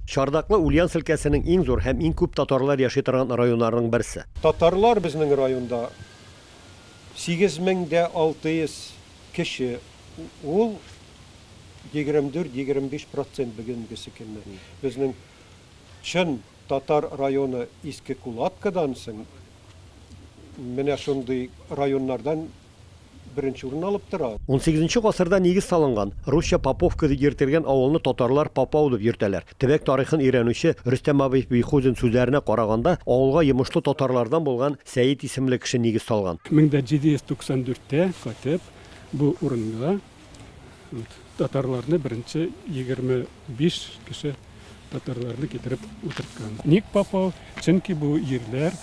Чардаклы Ульяновск өлкәсенең иң зур һәм иң күп татарлар яши торган районнарының берсе. Татарлар безнең районда 8600 кеше, ул 24-25 процент бүгенгесе көнне. Безнең чын татар районы Иске Кулаткадан соң менә шундый районнардан беренче урынны алып тора. Унсигезенче гасырда нигез салынган, русча Поповка дип йөртелгән авылны татарлар Попау дип йөртәләр. Төбәк тарихын өйрәнүче Рөстәм абый Бихузин сүзләренә караганда, авылга йомышлы татарлардан булган Сәет исемле кеше нигез салган. Мең дә җиде йөз туксан дүрттә кайтып, бу урынга Татарларны беренче 25 кеше татарларны китереп утырткан. Ник Попов? Чөнки бу җирләр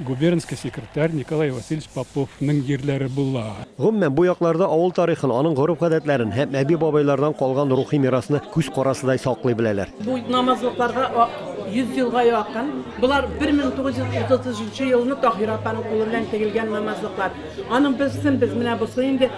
губернский секретарь Николай Васильевич Поповның җирләре була. Гомумән, бу якларда авыл тарихын, аның гореф-гадәтләрен һәм әби-бабайлардан калган рухи мирасны күз карасыдай саклый беләләр. Бу намазлыкларга 100 елга якын. Болар 1933 елны Таһира апаның кулы белән тегелгән намазлыклар. Аның берсен без менә бусы инде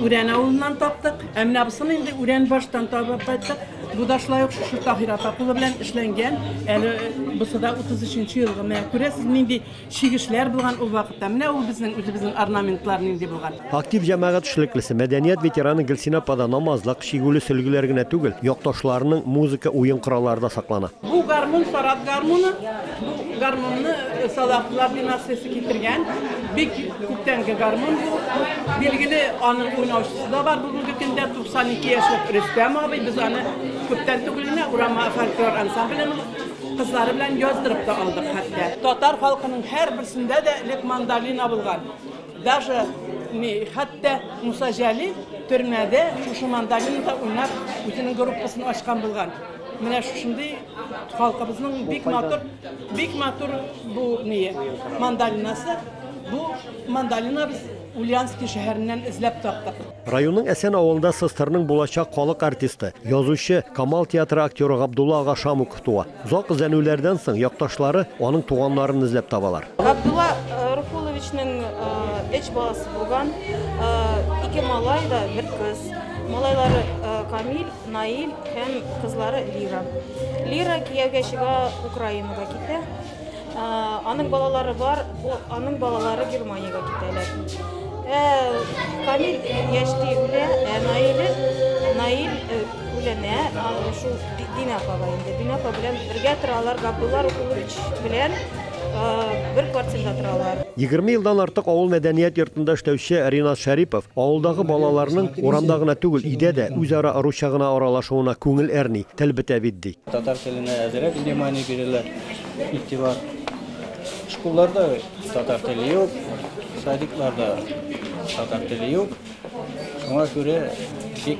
Үрән авылыннан таптык. Ә менә бусын инде Үрән баштан табып кайттык. Бу да шулай ук шушы Таһир апа кулы белән эшләнгән. Әле бусы да 33 елгы. Менә күрәсез, нинди чигешләр булган ул вакытта. Менә ул безнең үзебезнең орнаментлар нинди булган. Актив җәмәгать эшлеклесе, мәдәният ветераны Гөлсинә апада намазлык, чигүле сөлгеләр генә түгел, якташларының музыка, уен кораллары да саклана. Бу гармун, Сарат гармуны. Бу гармунны Салахлар династиясе китергән. Бик күптәнге гармун бу. Билгеле, аның уйнаучысы да бар бүгенге көндә 92 яшьлек Рөстәм абый. Без аны күптән түгел генә Урама фольклор ансамбленең кызлары белән яздырып та алдык хәтта. Татар халкының һәрберсендә дә элек мандолина булган. Даже не хәтта Муса Җәлил төрмәдә шушы мандолинада уйнап үзенең группасын ачкан булган. Менә шушындый Халкыбызның бик матур, бик матур бу ни мандалинасы. Бу мандалина без Ульянский шәһәреннән эзләп таптык. Районның Әсән авылында СССРның булачак халык артисты, язучы, Камал театры актеры Габдулла ага Шамуков туа. Зак эзләнүләрдән соң якташлары аның туганнарын эзләп табалар. Габдулла э, Руфуловичның эч э, баласы булган, э, ике малай да, бер кыз. Малайлары Камил Наил һәм кызлары Лира. Лира кияүгә чыга, Украинага китә. Аның балалары бар, аның балалары Германиягә китәләр. Ә Камил яшьли үлә, ә Наил Наил үләнә, шул Динапага инде. Динапа белән бергә торалар, Габдулла Рукулович белән бер квартирада торалар. Егерме елдан артык авыл мәдәният йортында эшләүче Ринат Шәрипов авылдагы балаларның урамда гына түгел, өйдә дә үзара русча гына аралашуына күңел әрни, тел бетә бит, ди. Татар теленә әзрәк внимание бирәләр, игътибар. Школларда татар теле юк, садикларда татар теле юк. Шуңа күрә бик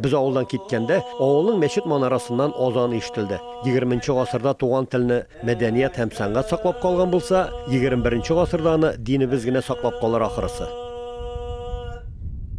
Без авылдан киткәндә, авылның мәчет манарасыннан азан ишетелде. Егерменче гасырда туган телне, мәдәният һәм сәнгать саклап калган булса, егерем беренче гасырда аны динебез генә саклап калыр ахрысы.